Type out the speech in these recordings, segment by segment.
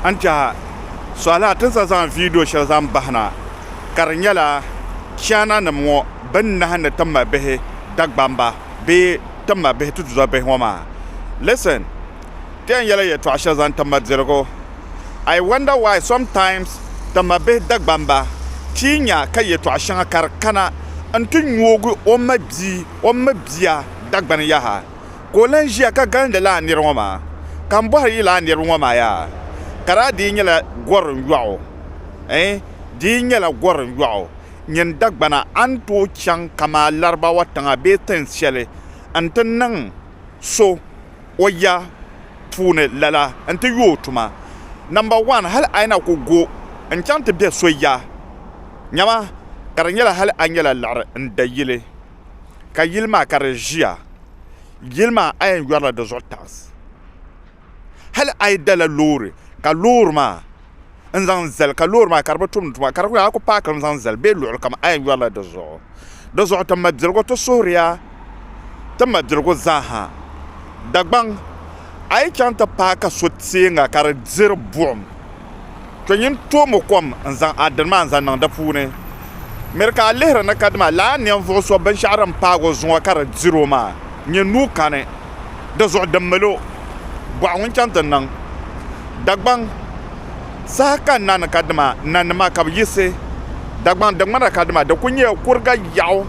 N tɛha suhila ti za zaŋ viidiyo shɛli zaŋ bahi na ka di nyɛla Chaana nim ŋɔ bɛn nahi ni ti ma bihi Dagbamba bee ti ma bihi tutuzo bihi ŋɔ maa. Listen, ti yɛn yɛla yɛtɔɣa shɛli zaŋ ti ma dirigu. I wonder why sometimes ti ma bihi Dagbamba ti yi nya ka yɛtɔɣa shɛŋa ka di kana n ti nyoogi o ma bia o mi bia Dagbani yaha. ka o lan ʒiya ka galindi lala nir ŋɔ maa, ka m bɔhiri yi lala niriba ŋɔ maa yaa, ka daa di yi nyɛla gɔrim yɔɣu, ɛɛ, di yi nyɛla gɔrim yɔɣu, nyin Dagbana, a ni tooi chaŋ kamaa Larabawa tiŋa bee tin shɛli nti niŋ so o ya puuni lala nti yo o tuma. Namba wan, hal a yi na ku go n-chaŋ ti bɛ so ya, nyama ka di nyɛla hal a nyɛla liɣiri n-da yili. ka yili maa ka di ʒiya yili maa a yɛn yɔrila di zuɣu taɣisi hali a yi dala loori ka loori maa n zaŋ zali ka loori maa ka di bi tumdi tuma ka di ku nyɛ a ku paakimi zaŋ zali bee luɣuli kam a yɛn yɔrila di zuɣu di zuɣu ti mabiligu ti suhuriya ti mabiligu zaaha Dagbaŋ a yi chaŋ ti paaki so tɛɛŋa ka di diri buɣim Kpe nyin toomi kom n-zaŋ a dini maa n-zaŋ niŋ di puuni. Miri ka a lihiri ni ka dima lala ninvuɣ so binshɛɣu din paag o zuŋɔ ka di dir o maa nyɛ nuu kani. Di zuɣu di mil o bɔɣu ŋun chaŋ ti niŋ Dagbaŋ saha ka na ni ka dima nanima ka bɛ yiɣisi Dagbaŋ di ŋmana ka dima di kul nyɛla kuriga yaɣu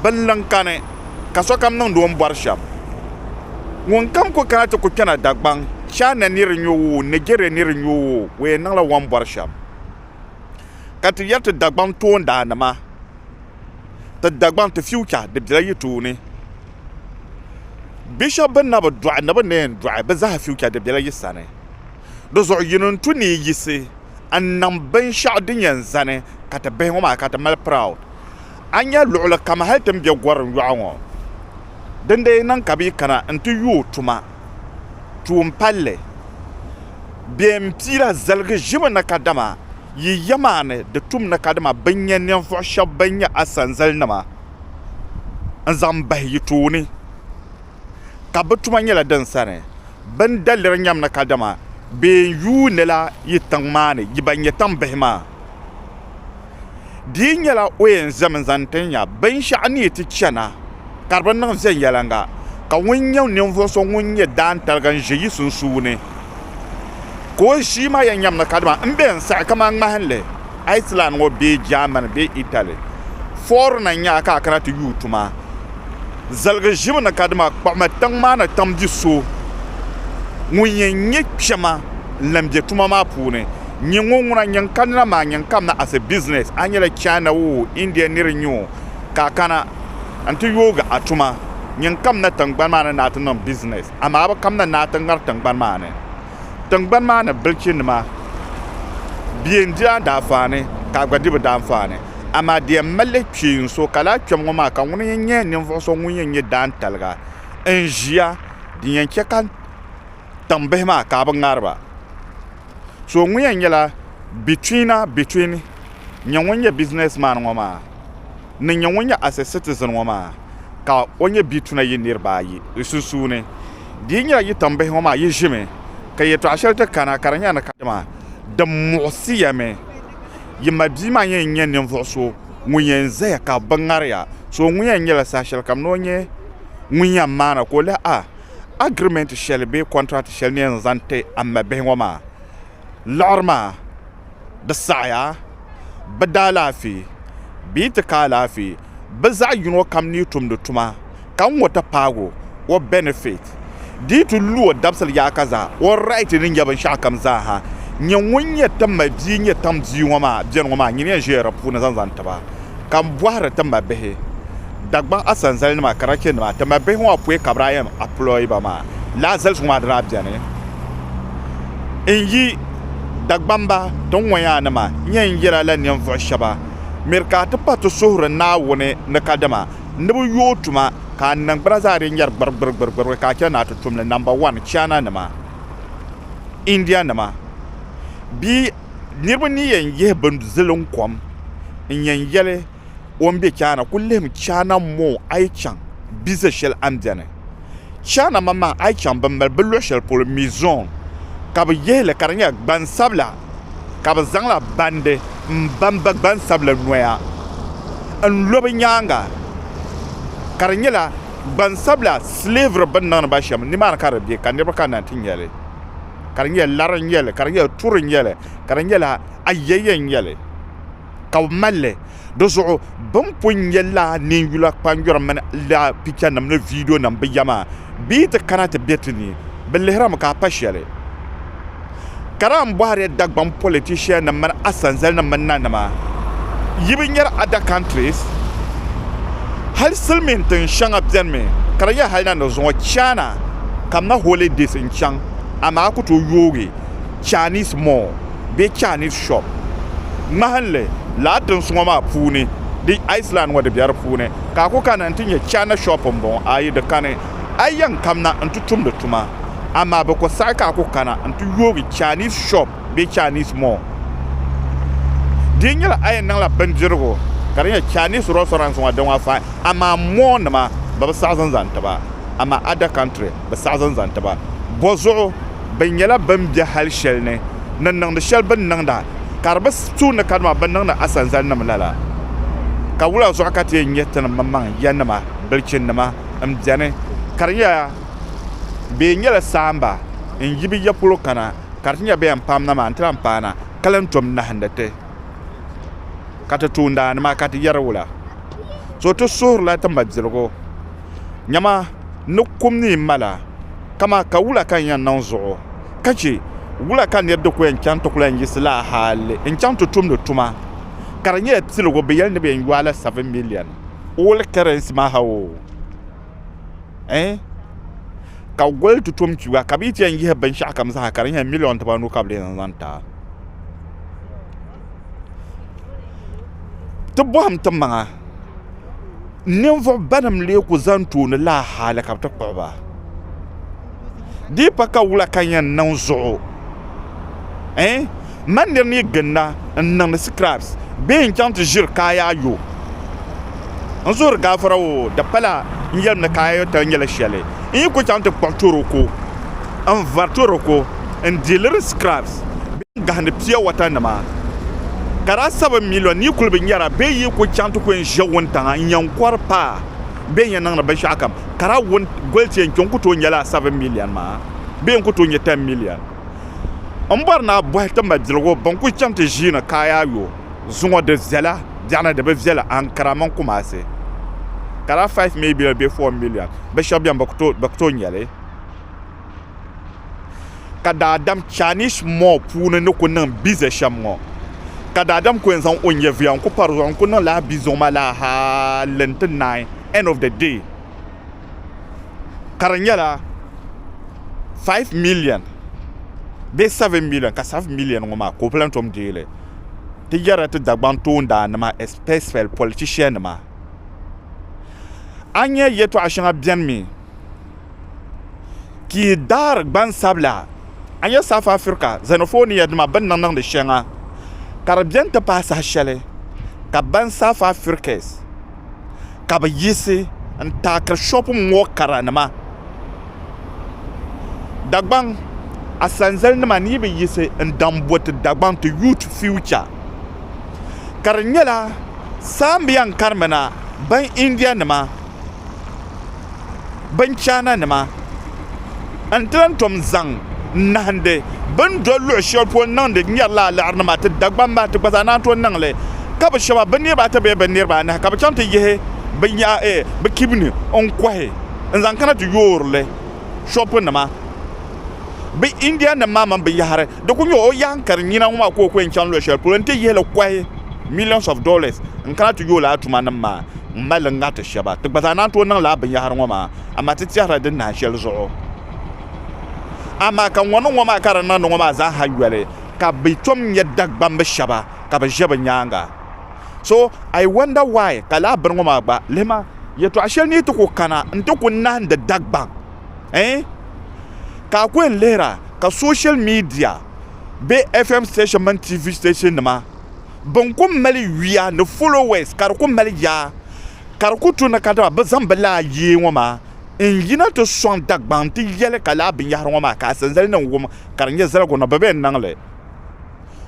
binliŋ kani. ka sokam niŋdi o ni bɔri shɛm. Ŋunkam ku kana ti ku kpɛna Dagbaŋ, China ni di nyo o, Nigeria ni di nyo o, o yɛn niŋla o ni bɔri shɛm. Ka ti yɛri ti Dagbaŋ toondaannima, ti Dagbaŋ, ti future di bela yi tooni. Bi shɛba bɛ na bi dɔɣi ni bɛ ni yɛn dɔɣi, bɛ zaa future di bela yi sani. Di zuɣu yi ni ni tu ni yi yiɣisi n-niŋ binshɛɣu din yɛn zani ka ti bihi ŋɔ maa ka ti mali proud. A ni nya luɣili kam hali ti ni be Gorim yɔɣu ŋɔ. Dindee yi niŋ ka bɛ yi kana nti yuui o tuma tuun palli, bɛ ni piira zaligi ʒimi na kadama yi yɛmaani di tum ni kadama bɛ ni nya ninvuɣ shɛb bɛn nyɛ a sanzalinima n-zaŋ bahi yi tooni, ka bɛ tuma nyɛla din sani. Bɛ ni daliri nyam ni kadama bɛ ni yuunila yi tiŋ maa ni yi ba nyɛ tiŋbihi maa. Di yi nyɛla o yɛn zami zaŋ ti nya binshɛɣu ni yi ti chana ka di bi niŋ viɛnyɛliŋga, ka ŋun nyɛ ninvuɣ so ŋun nyɛ daantaliga n-ʒe yi sunsuuni, ka o ʒii maa yɛn nyam ni kadama m be n-saɣi kaman ŋmahinli Iceland ŋɔ bee Germany bee Italy fɔɔri na n-nya a ka a kana ti yuui tuma ziligi ʒibu ni kadama kpuɣimi tiŋ maa ni tiŋ bi so ŋun yɛn nyɛ kpɛma n-lan be tuma maa puuni. Nyin ŋun ŋuna nyin kanina maa nyin kamina as a business, a nyɛla China oo, India nir n-nyɛ o, ka a kana n-ti yoogi a tuma. Nyin kamina tiŋgbani maa ni ni a ti niŋ business, amaa a bi kamina ni a ti ŋari tiŋgbani maa ni. Tiŋgbani maa ni bilichinima bie n-di a daanfaani, ka a gba di bɛ daanfaani. Amaa di yɛn mali li kpee n so, ka lala kpɛm ŋɔ maa ka ŋuni yɛn nyɛ ninvuɣ so ŋun yɛn nyɛ daantaliga n-ʒiya, din yɛn chɛ ka tiŋ bihi maa ka a bi ŋariba so ŋɔ yɛn nyɛla bituina bituin nyɛ ŋun nyɛ bisiness man ŋɔ maa ni nyɛ ŋun nyɛ as a citizen ŋɔ maa ka o nyɛ bituina yi niriba ayi di sunsuuni di yi nyɛla yi tiŋ bihi ŋɔ maa yi ʒimi ka yɛtɔɣa shɛli ti kana ka di nyɛla ni ka dama di muɣisiya mi yi ma bia maa yɛn nyɛ ninvuɣ so ŋun yɛn zaya ka bi ŋariya so ŋɔ yɛn nyɛla saha shɛlikam ni o nyɛ ŋun yɛn maana ka o lihi a agirimenti shɛli bee kɔntirati shɛli ni yɛn zaŋ ti a ma bihi ŋɔ maa liɣiri maa di saɣiya bɛ daalaafee bee ti ka alaafee bɛ zaɣ yino kam ni yi tumdi tuma ka ŋ ŋɔ ti paagi o o bɛnifiti di yi ti lu o dabisili yaaka zaa o raiti ni nya binshɛɣu kam zaa ha nyɛ ŋun nyɛ ti ma bia nyɛ tiŋ bia ŋɔ maa bɛni ŋɔ maa nyini yɛn ʒiya di puuni zaŋ zaŋ ti ba ka m bɔhiri ti ma bihi Dagbaŋ Asanzalinima, Karachianima ti mali bihi ŋɔ apɔi Kabrayam Aploiba maa lahi zali zuŋɔ di daa beni n yi Dagbamba tin ŋɔ yaa nima nyɛ n yela la ninvuɣu shɛba miri ka a ti pa ti suhuri Naawuni ni kadama ni bi yooi tuma ka a niŋgbuna zaa di nyɛri gbirigbirigbirigbiri ka a chani ni a ti tum li Number one China nima India nima bia niriba ni yɛn yihi bin ziliŋ kom n yɛn yeli o ni be Chaana kuli lihimi Chaana m ma o a yi chaŋ bizɛ shɛli a ni beni Chaana ma maa a yi chaŋ bɛ mali bɛ luɣ shɛli polo Mizon ka bɛ yihi li ka di nyɛla gbansabila ka bɛ zaŋla bandi m-bamba gbansabila noya n-lo bɛ nyaaŋa ka di nyɛla gbansabila slavery bɛ ni niŋdi ba shɛm nimaani ka di be ka niriba kana n-ti nya li ka di nyɛla lari n-nyɛ li ka di nyɛla turi n-nyɛ li ka di nyɛla ayɛyɛ n-nyɛ li ka bɛ mali li di zuɣu bɛ ni pun nya lala ninyula kpanjɔri mini lala pichanim ni viidionima bɛ ya maa bɛ yi ti kana ti be ti ni bɛ lihirimi ka a pa shɛli ka daa m-bɔhiri Dagbaŋ politiciannim mini a sanzalinim mini nanima yi bi nyari other countries hali silimiin tin shɛŋa benimi ka di nyɛ hali na ni zuŋɔ China kamina holidays n-chaŋ amaa a ku tooi yoogi Chinese mall bee Chinese shop. Ŋmahinli, lala tinsuŋɔ maa puuni di Iceland ŋɔ di be di puuni ka a ku kana nti nya China shop m-bɔŋɔ ayi di kani a yɛn kamna nti tumdi tuma amaa bɛ ku saɣi ka a ku kana nti yoogi Chinese shop bee Chinese mall. Di nyɛla a yɛn niŋla bindirigu ka di nyɛ Chinese restaurants ŋɔ di ŋɔ fai amaa mall nima bɛ bi saɣi zinzani ti ba amaa other country. bi saɣi zani zaŋ tiba. Bɔzuɣu, bɛ nyɛla bɛn be hal shɛli ni ni niŋdi shɛli bɛ ni niŋda, ka di bi su ni kadama bɛ ni niŋdi asanzalinim la la. Ka wula zuɣu ka ti yɛn nyɛ ti ni mmaŋ yanima, bilichinnima, m-beni, ka di nyɛla bɛ yɛn nyɛla saamba n-yi bɛ ya polo kana, ka di ti nya bɛ yɛn paamna maa nti lan paana, ka lan tom nahindi ti? Ka ti tuundaannima, ka ti yɛri wula? So ti suhirila ti mabiligu. Nyama n ni kum ni yi mala, kaman ka wula ka n yɛn niŋ zuɣu, ka chɛ wula ka nir di ku yɛn chaŋ ti ku lan yiɣisi lala hal n-chaŋ ti tumdi tuma? Ka di nyɛla piligu bɛ yɛli ni bɛ yɛn yɔɔi la seven million old currency maa ha oo, ɛɛn? Ka gol ti tom kpiba, ka bɛ yi ti yɛn yihi binshɛɣukam zaa ha, ka di nyɛla million tiba anu ka bɛ lee zaŋ ti a. Ti bɔhim ti maŋa. ninvuɣu banim lee ku zaŋ tooni laa hali ka bi ti kpuɣi ba di yi pa ka wula ka n yɛn niŋ zuɣu n ma nir ni ginda n niŋdi sikiras bee n chɛŋ ti ʒiri kaayo ayo n suhuri gaafara oo di pala n yɛlim ni kaayo ayo tali nyɛla shɛli n yi ku chɛŋ ti kpuɣi toroko n vari toroko n dihiri sikiras gahindi pia wata nima ka daa sabi miliyon ni yi kuli bi nyara bee yi ku chaŋ ti ku yɛn ʒe wuntaŋa n-yɛn kɔri paai bee n-yɛn niŋdi binshɛɣu kam ka daa wun goli ti yɛn kpe n-ku tooi nyɛla sabi miliyon maa bee n-ku tooi nyɛ tɛn miliyon. M bɔri ni a bɔhi ti ma biligu bɛn kuli chaŋ ti ʒiini kaai a yo zuŋɔ di viɛla biɛɣuni di bi viɛla Ankara mini Kumasi ka daa five miliyon bee four miliyon binshɛɣu beni bɛ ku tooi nyɛ li. ka daadam Chinese mob puuni ni ku niŋ bize shɛm ŋɔ ka daadam ku yɛn zaŋ o nyɛviya n-ku pari zuɣu n-ku niŋ lala bizuŋ maa lala hali nti naai end of the day ka di nyɛla five million bee seven million ka seven million ŋɔ maa ka o lahi tom deei li ti yɛrila ti Dagbaŋ toondaannima especially politiciannima a ni nya yɛtɔɣ shɛŋa beni mi ka yi daari gbansabila a ni nyɛ South Africa xenophobia nima bini ni niŋdi shɛŋa ka di bɛni ti pahi saha shɛli ka ban South Africas ka bi yiɣisi n taakiri shopping mall kara nima Dagbaŋ asanzali nima ni yi bi yiɣisi n daŋ bo ti Dagbaŋ ti youth future ka di nyɛla saambiya n kari mi na ban India nima. binchana nima n ti lahi tom zaŋ nahandi bi ni doli luɣu shɛli polo n niŋdi n yɛrila alaɣiri nima ti Dagban maha ti gba zaa naan tooi niŋli ka bi shɛba bi niriba ata bee bi niriba anahi ka bi chaŋ ti yihi bi kibini n kɔhi n zaŋ kana ti yoorili shɔpu nima bi India nim maa mini binyahiri di ku nyɛ o yaha n kari nyina ŋɔ maa ka o ku yɛn chaŋ luɣu shɛli polo n ti yihili kɔhi millions of dollars n kana ti yooi lala tuma nim maa. n mali ŋariti shɛba ti gba zaa naan tooi niŋ lala binyɛhiri ŋɔ maa amaa ti tɛhirila din nahi shɛli zuɣu amaa ka ŋɔ niŋ ŋɔ maa ka di niŋdi ŋɔ maa zaa ha yoli ka bɛ tom nyɛ Dagbamb shɛba ka bɛ ʒe bɛ nyaaŋa so I wonder why ka lala bini ŋɔ maa gba lihima yɛtɔɣ shɛli ni yi ti kuli kana n ti kuli nahindi Dagbaŋ ɛɛn ka a kuli yɛn lihira ka social media bee FM station mini TV station nima Bin ku mali yuya ni followers ka di ku mali yaa ka di ku tu ni kadama bɛ zaŋ bɛ laa yee ŋɔ maa n yina ti sɔŋ Dagbaŋ ti yɛli ka laa binyɛhiri ŋɔ maa ka asanzali niŋ wum ka di nyɛ zaligu ni bɛ bɛn niŋ li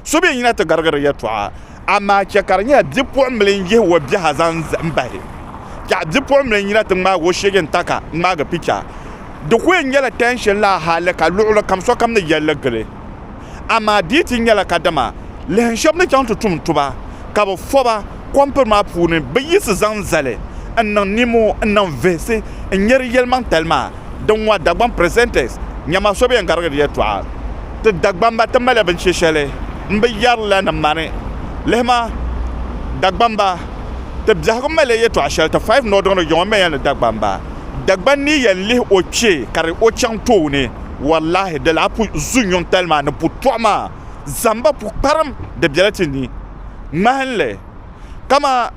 so bɛn yina ti garigi di yɛltɔɣa amaa chɛ ka di nyɛla bipuɣimbili n yihi o biɛha zaŋ bahi yaha bipuɣimbili n yina ti ŋmaagi o sheege n-taka ŋmaagi picha di ku yɛn nyɛla tension laa hali ka luɣilikam sokam ni yɛlli gili Amaa di yi ti nyɛla kadama lihin shɛb ni chaŋ ti tum tuba ka bɛ fɔba kɔmpiri maa puuni, bɛ yiɣisi zaŋ zali n-niŋ nimo n-niŋ vihisi n-nyari yɛlimaŋtali maa din ŋɔ Dagbaŋ presenters nyama so bi yɛn garigi di yɛltɔɣa ti Dagbamba ti maliya binche shɛli m-bi yari la ni mani lihima Dagbamba ti biɛhigu maliya yɛltɔɣa shɛli ti Five Nɔdiŋ di yiŋɔ mɛya ni Dagbamba Dagban ni yɛn lihi o kpe kari o chaŋ tooni Wallahi di lahi pu zu nyuŋtali maa ni pu tɔɣu maa zamba pukparim di bela ti ni ŋmahinli kama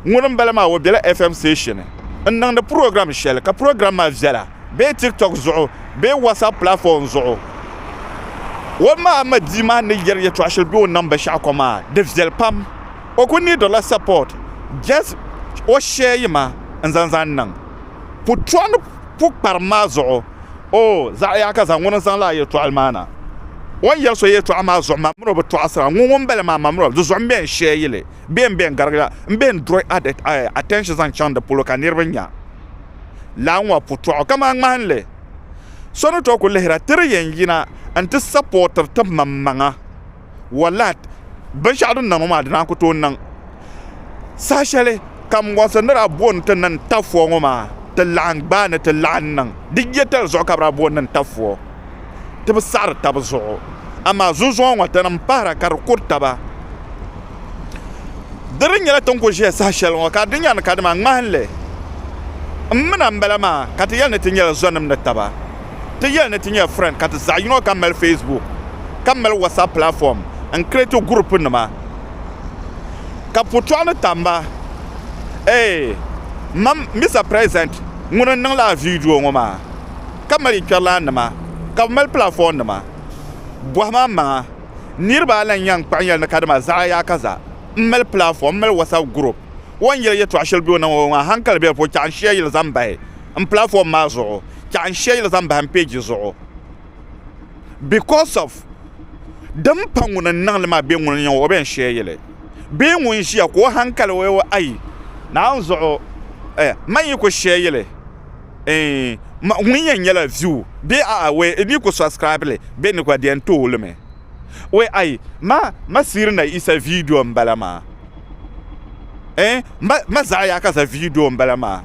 ŋuni m bala maa o bela FM station n niŋdi program shɛli ka program maa viɛla bee tiktok zuɣu bee whatsapp platform zuɣu o ma Ahmadi maa ni yɛri yɛtɔɣa shɛli be o nam binshɛɣukɔ maa di viɛli pam o ku niidirila support just o share yi ma n zaŋ zaŋ niŋ pu tɔɣu ni pukparim maa zuɣu O zaɣ yaha ka zaŋ ŋuni n-zaŋ lahi yɛtɔɣili maa na. O ni yɛri so yɛtɔɣa maa zuɣu maa, miri o bi tɔɣisira. Ŋun ŋun m-bala maa, ma miri o. Di zuɣu m-be n-shee yili, bee m-be n-garigi la, m-be n-draw attention zaŋ chaŋ di polo ka niriba nya lala ŋɔ putɔɣu. Kaman ŋmahinli, so ni tooi ku lihira, ti di yɛn yina nti sapɔɔtiri ti maŋmaŋa. wallahi binshɛɣu din niŋ ŋɔ maa di naan ku tooi niŋ saha shɛli ka n bɔŋsi ni daa bo ni ti niŋ tafuwa ŋɔ maa ti laɣim gbaai ni ti laɣim niŋ di yɛtali zuɣu ka bɛ daa bo ni niŋ tafuwa ti bi saɣiri tab zuɣu amaa zunzɔya ŋɔ tinim pahira ka di kuri taba di ni nyɛla ti ni ku ʒiya saha shɛli ŋɔ ka di nya ni kadama ŋmahinli m mina m-bala maa ka ti yɛli ni ti nyɛla zɔnim ni taba Ti yɛli ni ti nyɛ friend ka ti zaɣi yino kam mali Facebook ka mali WhatsApp platform n create group nima ka putɔɣu ni tam ba eeh mam Mister President ŋuni n niŋla a video ŋɔ maa ka mali kpɛrilan nima ka bi mali platform nima bɔhi ma n maŋa niriba a lan yan kpaɣi n yɛli ni ka dama zaɣa yaa ka za m mali platform m mali WhatsApp group o n yɛli yɛtɔɣa shɛli be o ni ŋɔ maa hankali bɛ di puuni chaɣa n shia yili zaŋ bahi n platform maa zuɣu chaɣ n shɛli zaŋ bahim page zuɣu because of din pa ŋuni n niŋli maa bɛ ŋuni o bɛn shɛli bee ŋuni ʒiya ka o hankali o ayi naan zuɣu eh man yi ku shɛli eh ŋuni yɛn nyɛla view bee aawɛ n yi ku subscribe li bɛ ni gba di yɛn tooi li mi Wee ayi ma ma siri na isa video n bala maa eh ma ma zaɣa ya ka za video n bala maa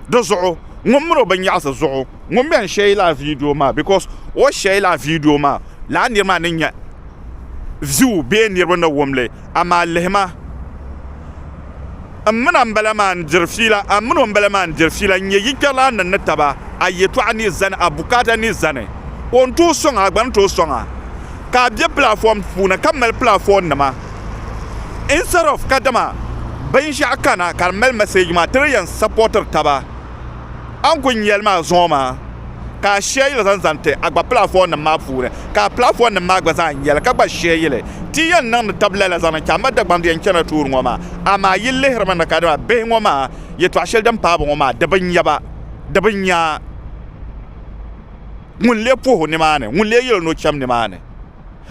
di zuɣu ŋun mini o bin yaɣasi zuɣu ŋun bɛn shɛyi la video maa because o shɛyi la video maa laa niri maa ni nya view bee niriba ni wumli Amaa lihi ma, m min a m-bala maa n-diri fiila, a min o m-bala maa n-diri fiila n-nyɛ yikpɛrilana ni ni taba, a yɛtɔɣa ni zani, a bukaata ni zani. O ni tooi sɔŋ a, a gba ni tooi sɔŋ a. Ka a be pilaafɔm puuni ka mali pilaafɔnnima instead of kadama binshɛɣu kana ka di mali message maa ti di yɛn supportiri taba. a ni kuli nya li maa zuŋɔ maa ka a shɛɛ yili zaŋ zaŋ ti a gba pilaafɔɔnnim maa puuni ka a pilaafɔɔnnim maa gba zaa nya li ka gba shɛɛ yili. Ti yi yɛn niŋdi tab lala zaŋ niŋ Chamba Dagbaŋ di yɛn chana tuuri ŋɔ maa, amaa yi lihiri mi ni kadama bihi ŋɔ maa yɛtɔɣ shɛli din paai ba ŋɔ maa di bi nya ba, di bi nya ŋun lee puhi o nimaani, ŋun lee yɛl o ni o cham nimaani.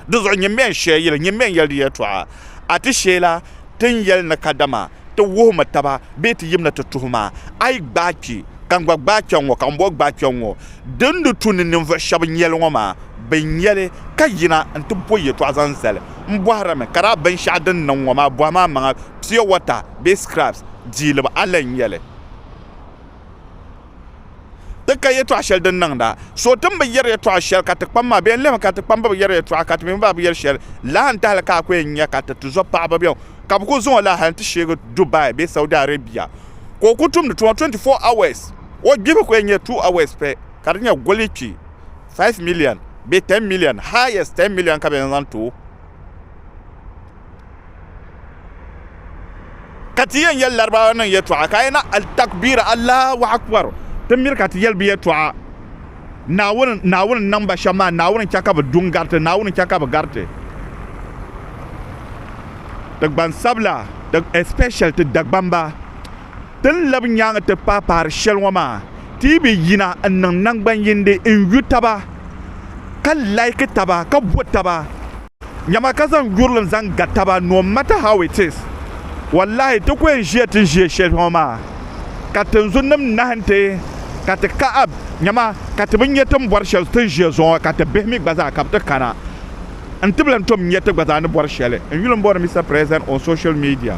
Dinzuɣu nyini mi yɛn shɛɛ yili, nyini mi yɛn yɛli di yɛtɔɣa. A ti sheei la ti ni yɛli ni kadama. ti wuhimi taba bee ti yimina ti tuhi ma, a yi gbaai kpi, ka n gba gbaai kpɛŋ ŋɔ, ka ŋumbɔŋɔ gbaai kpɛŋ ŋɔ, di ni di tu ni ninvuɣ shɛb nyɛli ŋɔ maa, bɛ nya li, ka yina nti bɔ yɛtɔɣa zaŋ zali. M bɔhirimi ka daa binshɛɣu din niŋ ŋɔ maa bɔhim amaŋa pure water bee scraps, diiliba, a lan nya li. ti ka yɛtɔɣ shɛli din niŋda so ti ni bi yɛri yɛtɔɣ shɛli ka ti kpam maa bee n-lihimi ka ti kpam bi bi yɛri yɛtɔɣa ka ti mi gba bi yɛri shɛli lahi n-tahili ka a ku yɛn nya ka ti tizɔb paɣiba bɛn ka bɛ ku zaŋ o la hal nti sheegi Dubai bee Saudi Arabia ka o ku tumdi tuma 24 hours o gbihibu ku yɛn nyɛ 2 hours pɛ ka di nyɛ goli kpi 5 million bee 10 million highest 10 million ka bɛ yɛn zaŋ ti o. ka ti yɛn yɛli laribawa niŋ yɛtɔɣa ka yɛna altakbir allahu akbar ti miri ka ti yɛli bi yɛtɔɣa naawuni naawuni niŋ ba shɛm maa naawuni chɛ ka bi du n gariti naawuni chɛ ka bi gariti ti gbansabila ti especially ti dagbamba ti ni labi nyaangi ti paai paari shɛli ŋɔ maa ti yi bi yina n niŋ nangbani yindi n yu taba ka like taba ka bo taba Nyama ka zaŋ yurilim zaŋ ga taba no matter how it is wallahi ti ku yɛn ʒiya ti ʒiɛ shɛli ŋɔ maa ka tinzunnim nahi nti ka ti kahab nyama ka ti bi nya ti ni bɔri shɛli ti ni ʒiya zuɣu ŋɔ ka ti bihi mi gba zaa ka bɛ ti kana nti bi lan tom nya ti gba zaa ni bɔri shɛli n yuli m-bɔri Mister President on social media.